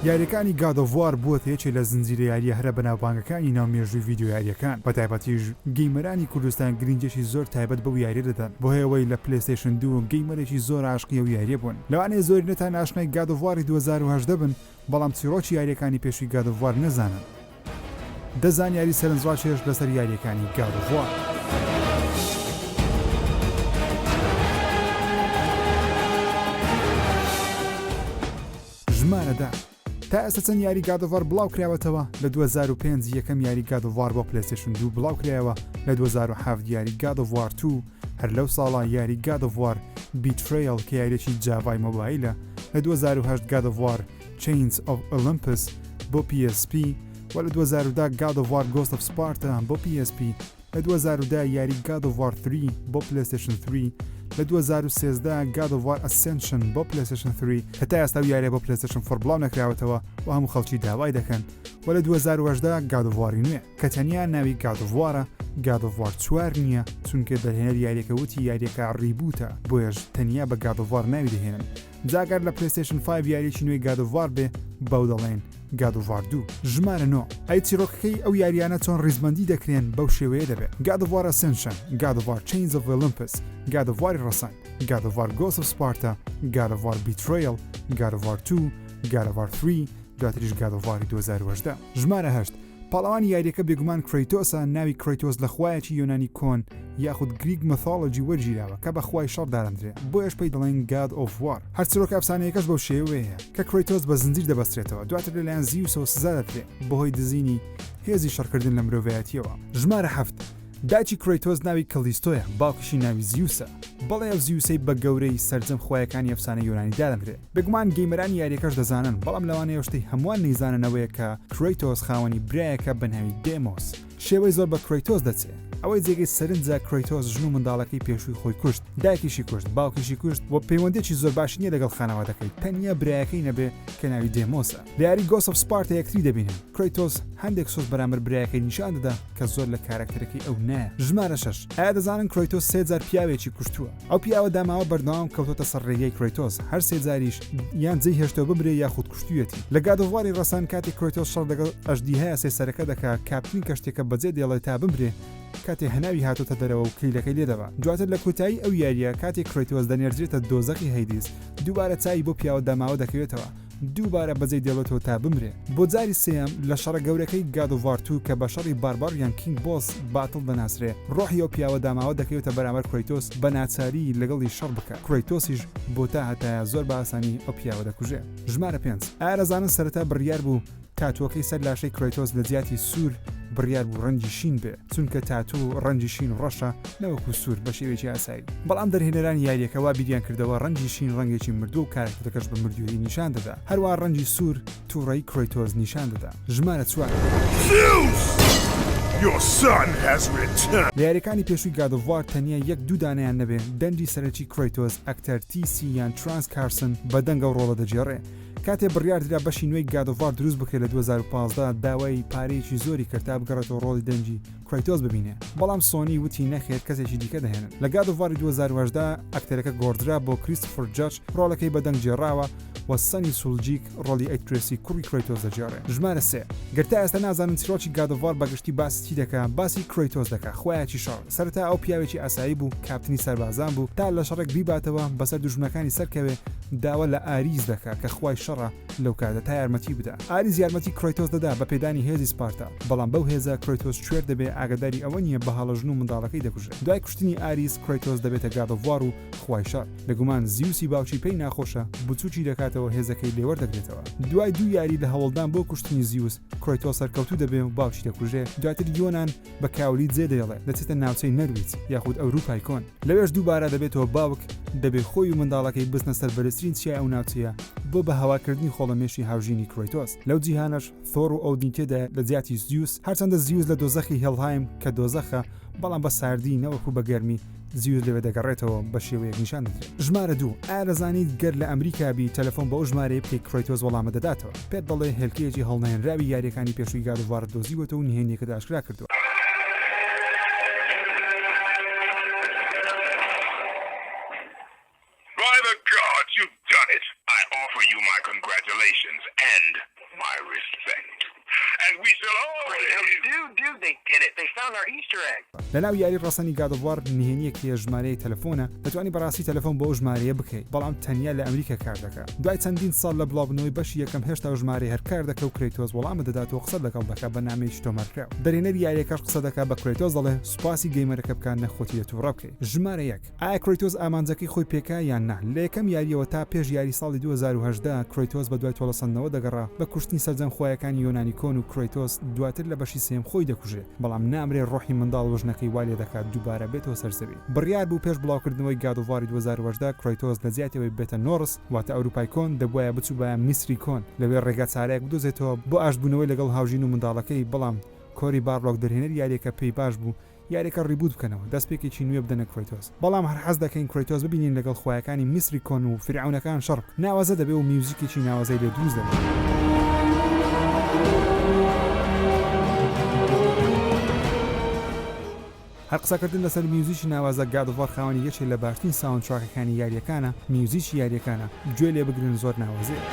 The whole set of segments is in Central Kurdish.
یاریەکانی گاد ئۆف وار بووەتە یەکێ لە زنجیرە یاریە هەرە بەناوبانگەکانی ناو مێژووی ڤیدیۆ یاریەکان بەتایبەتیش گەیمەرانی کوردستان گرنگیەکی زۆر تایبەت بەو یاریە دەدەن بەهۆی ئەوەی لە پلەیستەیشن دوو گەیمەرێکی زۆر عاشقی ئەو یاریە بوون لەوانەیە زۆرینەتان ئاشنای گاد ئۆف واری دوو هەزار و هەژدە بن بەڵام چیڕۆکی یاریەکانی پێشووی گاد ئۆف وار نەزانن دە زانیاری سەرنجڕاکێش لەسەر یارییەکانی گاد ئۆف وار. ژمارە دە تا ئێستا چەند یاری گادۆڤار بڵاو کراوەتەوە لە 2005 یەکەم یاری گادۆڤار بۆ پلسێشن دوو بڵاو کرایەوە لە 2007 یاری گادۆڤار تو هەر لەو ساڵا یاری گادۆڤار بیتریل کە یاریێکی جاڤای مۆبایلە لە 2010 گادۆڤار Chains of Olympus بۆ پی ئێس پی، وە لە دوو هەزار و دە God of War Ghost of Sparta بۆ پی ئێس پی، لە دوو هەزار و دە یاری God of War 3 بۆ پلەیستێشن 3، لە دوو هەزار و سێزدە God of War Ascension بۆ پلەیستێشن 3، کە تا ئێستا ئەو یاریە بۆ پلەیستێشن فۆر بڵاو نەکراوەتەوە و هەموو خەڵکی داوای دەکەن، وە لە دوو هەزار و هەژدە God of War ی نوێ، کە تەنیا ناوی God of War ە God of War چوار نیە، چونکە دەرهێنەر یاریەکە وتی یاریەکە ڕیبوتە بۆیەش تەنیا بە God of War ناوی دەهێنن. جا گەر لە پلەیستەیشن فایڤ یاریەکی نوێی گاد ئۆف وار بێ بەو دەڵێن گاد ئۆف وار دوو ژمارە نۆ ئەی چیرۆکەکەی ئەو یاریانە چۆن ڕیزبەندی دەکرێن بەو شێوەیە دەبێت گاد ئۆف وار ئەسێنشن گاد ئۆف وار چەینز ئۆف ئۆلمپس گاد ئۆف واری ڕەسەن گاد ئۆف وار گۆس ئۆف سپارتا گاد ئۆف وار بیترەیڵ گاد ئۆف وار تو گاد ئۆف وار ثری دواتریش گاد ئۆف واری دوو هەزار و هەژدە ژمارە هەشت پاڵەوانی یاریەکە بێگومان کرەیتۆسە، ناوی کرەیتۆس لە خوایەکی یۆنانی کۆن یاخود Greek Mythology وەرگیراوە کە بە خوای شەڕ دادەندرێ بۆیەش پێی دەڵێن God of War هەر چرۆکە ئەفسانەیەکەش بەو شێوەیەیە کە کرەیتۆس بە زنجیر دەبەسترێتەوە دواتر لەلایەن زیوسەوە سزا دەدرێ بەهۆی دزینی هێزی شەڕکردن لە مرۆڤایەتیەوە. ژمارە حەفت. دایکی کرەیتۆس ناوی کەلیستۆیە، باوکیشی ناوی زیوسە. بەڵێ ئەو زیوسەی بە گەورەی سەرجەم خوایەکانی ئەفسانەی یۆنانی دادەنرێ. بێگومان گەیمەرانی یاریەکەش دەزانن، بەڵام لەوانەیە شتەی هەمووان نەیزانن ئەوەیە کە کرەیتۆس خاوەنی برایەکە بە ناوی دێمۆس. شێوەی زۆر بە کرەیتۆس دەچێ. ئەوەی جێگەی سەرنجە کرەیتۆس ژن و منداڵەکەی پێشووی خۆی کوشت، دایکیشی کوشت، باوکیشی کوشت و پەیوەندیەکی زۆر باشی نیە لەگەڵ خانەوادەکەی، تەنیا برایەکەی نەبێ کە ناوی دێمۆسە. لە یاری گۆست ئۆف سپارتا یەکتری دەبینن، کرەیتۆس هەندێک سوک بەرامبەر برایەکەی نیشان دەدا کە زۆر لە کارەکتەرەکەی ئەو نایە. ژمارە شەش، ئایا دەزانن کرەیتۆس سێ جار پیاوێکی کوشتووە؟ ئەو پیاوە داماوە بەردەوام کەوتۆتە سەر رێگەی کرەیتۆس، هەر سێ جاریش یان جێی هێشتووە بمرێ یاخود کوشتوویەتی. لە گاد ئۆف واری رەسەن کاتێ کرەیتۆس شەڕ دەگەڵ ئەژدیهایە سێ سەرەکە دەکا، کاپتنی کەشتیەکە بەجێ دێڵێ تا بمرێ کاتێ هەناوی هاتۆتە دەرەوە و کلیلەکەی لێ دەبا. دواتر لە کۆتایی ئەو یاریە کاتێ کرەیتۆس دەنێردرێتە دۆزەخی هەیدیس دووبارە چاوی بەو پیاوە داماوە دەکەوێتەوە، دووبارە بەجێی دێڵێتەوە تا بمرێ بۆ جاری سێیەم لە شەڕە گەورەکەی گاد ئۆف وار توو کە بە شەڕی بارباریان کینگ بۆس باتڵ دەناسرێ ڕۆحی ئەو پیاوە داماوە دەکەوێتە بەرامبەر کرەیتۆس بە ناچاری لەگەڵی شەڕ بکا کرەیتۆسیش بۆ تا هەتایە زۆر بە ئاسانی ئەو پیاوە دەکوژێ. ژمارە پێنج ئارەزانە سەرەتا بڕیار بوو تاتوەکەی سەر لاشەی کرەیتۆس لە جیاتی سوور بڕیار بوو ڕەنگی شین بێ چونکە تاتوو ڕەنگی شین و ڕەشە نەوەکو سوور بە شێوەیەکی ئاسایی بەڵام دەرهێنەرانی یاریەکە وا بیریان کردەوە ڕەنگی شین ڕەنگێکی مردووە و کارەکتەکەش بە مردوویی نیشان دەدا هەروا ڕەنگی سوور توڕەیی کرەیتۆس نیشان دەدا ژمارە چوار. لە یاریەکانی پێشووی گاد ئۆف وار تەنیا یەک دوو دانەیان نەبێ دەنگی سەرەکی کرەیتۆس ئەکتەر تی سی یان ترانس کارسن بە دەنگە و ڕۆڵە دەگێڕێ کاتێ بڕیار درا بەشی نوێی گاد ئۆف وار دروست بکرێت لە دوو هەزار و پازدە داوای پارەیەکی زۆری کرد تا بگەڕێتەوە ڕۆڵی دەنگی کرەیتۆس ببینێ بەڵام سۆنی وتی نەخێر کەسێکی دیکە دەهێنن لە گاد ئۆف واری دوو هەزار و هەژدە ئەکتەرەکە گۆڕدرا بۆ کریستۆفر جاج ڕۆڵەکەی بە دەنگ گێڕاوە و سەنی سولجیک ڕۆڵی ئەید ترێسی کوڕی کرەیتۆس دەگێڕێ ژمارە سێ گەر تا ئێستا نازانن چیرۆکی گاد ئۆف وار بەگشتی باسی چی دەکا باسی کرەیتۆس دەکا خوایەکی شەڕ. سەرەتا ئەو پیاوێکی ئاسایی بوو، کاپتنی سەربازان بوو، تا لە شەڕێک بیباتەوە بەسەر دوژمنەکانی سەرکەوێ، داوا لە ئاریس دەکا کە خوای شەڕە لەو کاتە تا یارمەتی بدا. ئاریس یارمەتی کرەیتۆس دەدا بە پێدانی هێزی سپارتا، بەڵام بەو هێزە کرەیتۆس کوێر دەبێ ئاگەداری ئەوە نییە بەهەڵە ژن و منداڵەکەی دەکوژێ. دوای کوشتنی ئاریس کرەیتۆس دەبێتە گاد ئۆف وار و خوای شەڕ، بێگومان زیوسی باوکی پێی ناخۆشە، بچوکی دەکاتەوە هێزەکەی لێ وەردەگرێتەوە. دوای دوو یاری لە هەوڵدان بۆ کوشتنی زیوس، کرەیتۆس سەرکەوتوو دەبێ و باوکی دەکوژێ، دواتر یۆنان، بە کاولی جێ دەیڵێ، دەچێتە ناوچەی نەرویج یاخود ئەورووپای کۆن. لەوێش دووبارە دەبێتەوە باوک، دەبێ خۆی و منداڵەکەی بچنە سەر بەرزترین چیای ئەو ناوچەیە بۆ بە هەواکردنی خۆڵەمێشی هاوژینی کرەیتۆس. لەو جیهانەش ثۆر و ئۆدین تێدایە لە جیاتی زیوس، هەرچەندە زیوس لە دۆزەخی هێڵهایم کە دۆزەخە، بەڵام بە ساردی نەوەکو بە گەرمی، زیوت لەوێ دەگەڕێتەوە بە شێوەیەک نیشان دەدرێت. ژمارە دوو، ئایا دەزانیت گەر لە ئەمریکا بی تەلەفۆن بەو ژمارەیە بکەی کرەیتۆس وەڵامت دەداتەوە پێت دەڵێ هێلکەیەکی هەڵنەیەنراوی یاریەکانی پێشووی گاد ئۆف وارت دۆزیوەتەوە و نهێنیەکەت ئاشکرا کردووە. لەناو یاری ڕەسەنی گاد ئۆف وار نهێنیەک هەیە ژمارەی تەلەفۆنە دەتوانی بەڕاستی تەلەفۆن بەو ژمارەیە بکەی بەڵام تەنیا لە ئەمریکا کاردەکا دوای چەندین ساڵ لە بڵاوبونەوەی بەشی یەکەم هێشتا ئەو ژمارەیە هەر کاردەکە و کرەیتۆس وەڵامت دەدات و قسەت لەگەڵ دەکا بە نامەیەکی تۆمارکراو دەرهێنەری یاریەکەش قسەدەکا بە کرەیتۆس دەڵێ سوپاسی گەیمەرەکە بکە نەک خۆتی لە توڕە بکەی ژمارە یەک. ئایا کرەیتۆس ئامانجەکەی خۆی پێکا یان نا؟ لە یەکەم یارییەوە تا پێش یاری ساڵی دوو هەزار و هەژدە، کرەیتۆس بەدوای تۆڵەسەندنەوە دەگەڕا، بە کوشتنی سەرجەم خوایەکانی یۆنانی کۆن و کرەیتۆس دواتر لە بەشی سێیەم خۆی دەکوژێ، بەڵام نامرێ ڕۆحی منداڵ وژنەکەی وا لێدەکات دووبارە بێتەوە سەر زەوی. بڕیار بوو پێش بڵاوکردنەوەی گاد ئۆف واری دوو هەزار و هەژدە کرەیتۆس لە جیاتی ئەوەی ببێتە نۆڕس واتە ئەوروپای کۆن دەبوایە بچووبایە میسری کۆن لەوێ ڕێگا چارەیەک بدۆزێتەوە بۆ ئاشتبوونەوەی لەگەڵ هاوژین و منداڵەکەی بەڵام کۆری بارلۆک دەرهێنەری یارییەکە پێی باش بوو یاریەکە ڕیبووت بکەنەوە دەستپێکێکی نوێ بدەنە کرەیتۆس بەڵام هەر حەز دەکەین کرەیتۆس ببینین لەگەڵ خوایەکانی میسری کۆن و فیرعەونەکان شەڕ بکە ناوازە دەبێ و میوزیکێکی ناوازەی لێ دروست هەر قسەکردن لەسەر میوزیکی ناوازە گاد ئۆف وار خاوەنی یەکێ لە باشترین ساوند تراکەکانی یاریەکانە میوزیکی یاریەکانە گوێ لێ بگرن زۆر ناوەزەیە.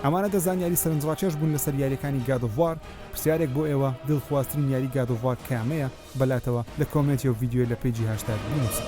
ئەمانە دە زانیاری سەرنجڕاکێش بوون لەسەر یاریەکانی گاد ئۆف وار پرسیارێک بۆ ئێوە دڵخوازترین یاری گاد ئۆف وار کامەیە بەلاتەوە لە کۆمێنت یۆ ڤیدیۆ لە پەیجی هاشتاگ بنووسن.